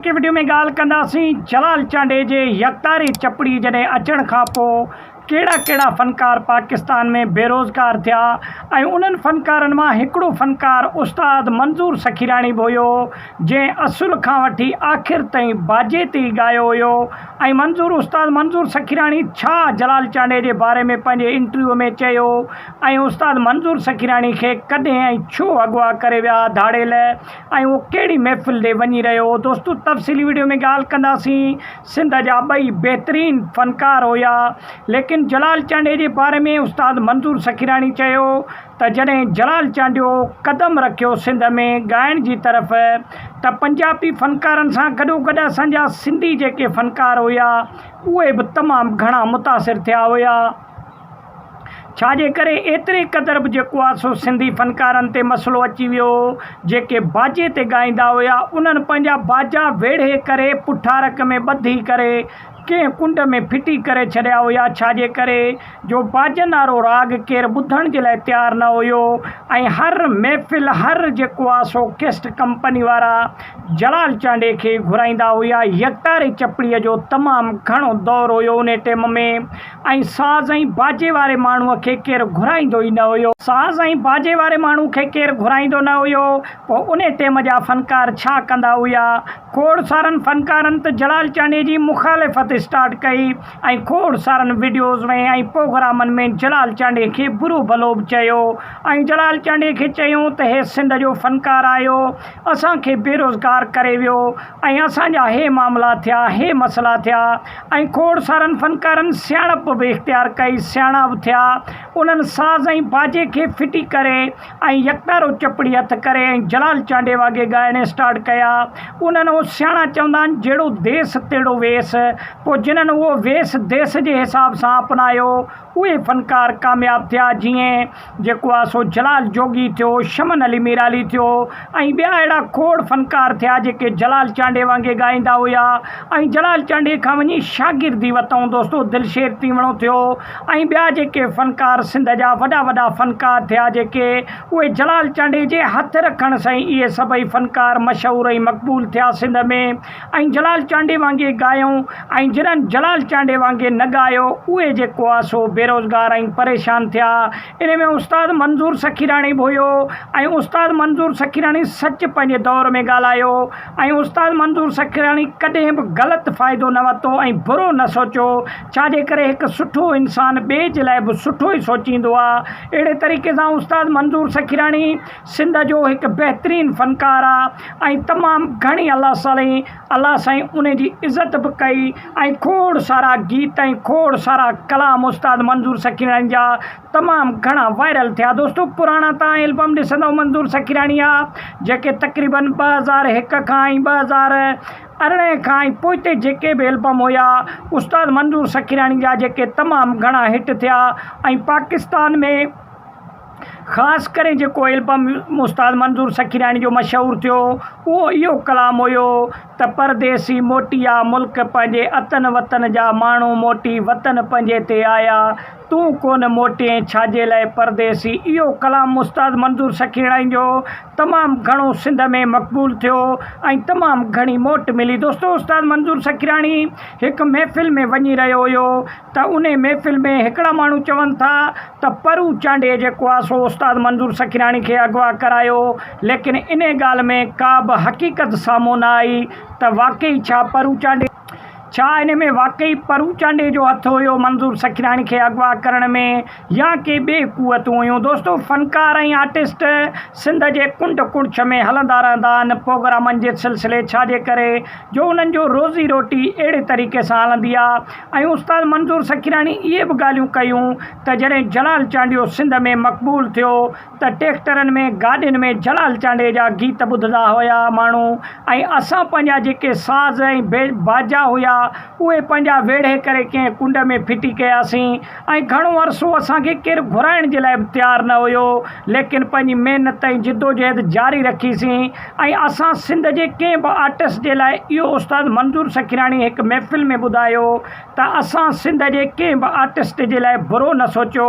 اڳتي وڊيو ۾ ڳالهه ڪنداسين جلال چانڊئي جي يڪتاري چپڙي جڏهن اچڻ کان پوء ڪهڙا ڪهڙا فنڪار پاڪستان ۾ بيروزگار ٿيا ۽ انهن فنڪارن مان هڪڙو فنڪار استاد منظور سخيراڻي به هيو جنهن اصل کان وٺي آخر تائين باجي تي ئي ڳايو هيو ۽ منظور استاد منظور سخيراڻي ڇا جلال چانڊئي جي باري ۾ پنهنجي انٽرويو ۾ چيو ۽ استاد منظور سخيراڻي کي ڪڏهن ۽ ڇو اغوا ڪري ويا ڌاڙيل ۽ اهو ڪهڙي محفل ڏي وڃي رهيو هو دوستو تفصيلي ويڊيو ۾ ڳالهه ڪنداسين سنڌ جا ٻئي بهترين فنڪار هيا ليڪن جلال چانڊيي جي باري ۾ استاد منظور سخيراڻي چيو ته جڏهن جلال چانڊيو قدم رکيو سنڌ ۾ ڳائڻ جي طرف ته پنجابي فنڪارن سان گڏوگڏ اسان جا سنڌي جيڪي فنڪار هيا اهي به تمام گهڻا متاثر ٿيا هيا. ڇا جي ڪري ايتري قدر به جيڪو آ سو سنڌي فنڪارن تي مسئلو اچي ويو هو جيڪي باجي تي ڳائيندا هيا انهن پنهنجا باجا ويڙهي ڪري پٺارڪ ۾ ٻڌي ڪري ڪنهن ڪنڊ ۾ ڦٽي ڪري ڇڏيا هيا ڇا جي ڪري جو باجن آرو راڳ ڪير ٻڌڻ جي لاء تيار نه هيو ۽ هر محفل هر جيڪو آ سو ڪيسٽ ڪمپني وارا جلال چانڊي کي گهرائيندا هيا يڪتاري چپڙي جو تمام گهڻو دور هيو انهي ٽيم ۾ ۽ ساز ۽ باجي واري ماڻهوء کي ڪير گهرائيندو ئي نه هيو. ساز ۽ باجي واري ماڻهوء کي ڪير گهرائيندو نه هيو، پوء انهي ٽيم جا فنڪار ڇا ڪندا هيا؟ کوڙ سارن فنڪارن ته جلال چانڊيي جي مخالفت اسٽارٽ ڪئي ۽ کوڙ سارن وڊيوز ۾ ۽ پوگرامن ۾ جلال چانڊيي کي برو ڀلو به چيو ۽ جلال چانڊيي کي چيون ته هي سنڌ جو فنڪار آهيو، اسان کي بيروزگار ڪري ويو. ۽ اسان جا هي معاملا ٿيا، هي مسئلا ٿيا ۽ کوڙ سارن فنڪارن سياڻپ به اختيار ڪئي، سياڻا به ٿيا، انهن ساز ۽ باجي کي ڦٽي ڪري ۽ يڪتارو چپڙي هٿ ڪري ۽ جلال چانڊي واگي ڳائڻ اسٽارٽ ڪيا. انهن اهو سياڻا چوندا آهن جهڙو ديس تهڙو ويس. پوء جنهن اهو ويس ديس جي حساب سان اپنايو، اهي فنڪار ڪامياب ٿيا، جيئن. جيڪو آ سو جلال جوڳي ٿيو، شمن علي ميرالي ٿيو ۽ ٻيا اهڙا کوڙ فنڪار ٿيا جيڪي جلال چانڊئي وانگي ڳائيندا هيا ۽ جلال چانڊئي کان وڃي شاگردي وتئون دوستو دلشير تيوڻو ٿيو ۽ ٻيا جيڪي فنڪار سنڌ جا وڏا وڏا فنڪار ٿيا جيڪي اهي جلال چانڊئي جي هٿ رکڻ سئين اهي سڀئي فنڪار مشهور ۽ مقبول ٿيا سنڌ ۾ ۽ جلال چانڊي وانگي ڳايئون ۽ جنھن جلال چانڊي وانگي نه ڳايو اھي جيڪو آ سو بيروزگار ۽ پريشان ٿيا انھي ۾ استاد منظور سخيراڻي به ھيو ۽ استاد منظور سخيراڻي سچ پنھنجي دور ۾ ڳالھايو ۽ استاد منظور سخيراڻي ڪڏھن به غلط فائدو نه ورتو ۽ برو نه سوچيو ڇاجي ڪري ھڪ سٺو انسان ٻئي جي لاء به سٺو ئي سوچيندو آ اھڙي طريقي سان استاد منظور سخيراڻي سنڌ جو هڪ بهترين فنڪار آ ۽ تمام گهڻي الله صالحي الله سائين ان جي عزت به ڪئي ۽ کوڙ سارا گيت ۽ کوڙ سارا ڪلام استاد منظور سخيراڻي جا تمام گهڻا وائرل ٿيا دوستو پراڻا تهان البم ڏسندئو منظور سخيراڻي جا جيڪي تقريبن ٻه هزار هڪ کان ۽ ٻه هزار ارڙهن کان ۽ پوئتي جيڪي به البم هيا استاد منظور سخيراڻي جا جيڪي تمام گهڻا هٽ ٿيا ۽ پاڪستان ۾ خاص ڪري جيڪو البم استاد منظور سخيراڻي جو مشهور ٿيو اهو اهو ڪلام هيو ته پرديسي موٽي آ ملڪ پنهنجي اتن وطن جا ماڻهو موٽي وطن پنهنجي تي آيا تون ڪونه موٽين ڇاجي لاء پرديسي اهو ڪلام استاد منظور سخيراڻي جو تمام گهڻو سنڌ ۾ مقبول ٿيو ۽ تمام گهڻي موٽ ملي دوستو استاد منظور سخيراڻي هڪ محفل ۾ وڃي رهيو هيو ته انهي محفل ۾ هڪڙا ماڻهو چون ٿا ته پرو چانڊيي جيڪو آ سو استاد منظور سکيراڻي کي اغوا ڪرايو ليڪن انهي ڳالهه ۾ ڪابه حقيقت سامهون نه آئي ته واقعي ڇا پرو چانڊيي ڇا انهي ۾ واقعي پرو چانڊيي جو هٿ هيو منظور سکيراڻي کي اغوا ڪرڻ ۾ يا ڪي ٻي قوتون هيون دوستو فنڪار ۽ آرٽسٽ سنڌ جي ڪنڊ ڪڙڇ ۾ هلندا رهندا آهن پوگرامن جي سلسلي ڇا جي ڪري جو انهن جو روزي روٽي اهڙي طريقي سان هلندي آ ۽ استاد منظور سکيراڻي اهي به ڳالهيون ڪيون ته جڏهن جلال چانڊيو سنڌ ۾ مقبول ٿيو ته ٽيڪٽرن ۾ گاڏين ۾ جلال چانڊيي جا گيت ٻڌدا هيا ماڻهو ۽ اسان پنهنجا جيڪي ساز ۽ باجا هيا اهي پنهنجا ويڙهي ڪري ڪنهن ڪنڊ ۾ ڦٽي ڪياسين ۽ گهڻو عرصو اسان کي ڪير گهرائڻ جي لاء به تيار نه هيو ليڪن پنهنجي محنت ۽ جدوجهد جاري رکي سين ۽ اسان سنڌ جي ڪنهن به آرٽسٽ جي لاء اهو استاد منظور سکيراڻي هڪ محفل ۾ ٻڌايو ته اسان سنڌ جي ڪنهن به آرٽسٽ جي لاء برو نه سوچيو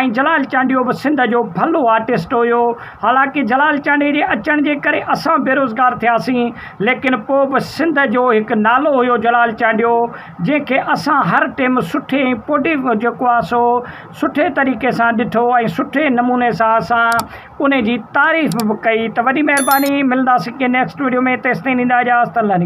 ۽ جلال چانڊيو به سنڌ جو ڀلو آرٽسٽ هيو حالانڪه جلال چانڊيي جي اچڻ جي ڪري اسان بيروزگار ٿياسين ليڪن پوء به سنڌ جو هڪ نالو هيو جلال چانڊيو جنهن کي اسان هر ٽيم سٺي ۽ پوڊيو جيڪو آ سو سٺي طريقي سان ڏٺو ۽ سٺي نموني سان اسان انهي جي تعريف به ڪئي ته وڏي مهرباني ملنداسين ڪنهن نيڪسٽ وڊيو ۾ تيستائين نيندا اجازت الله نگهبان.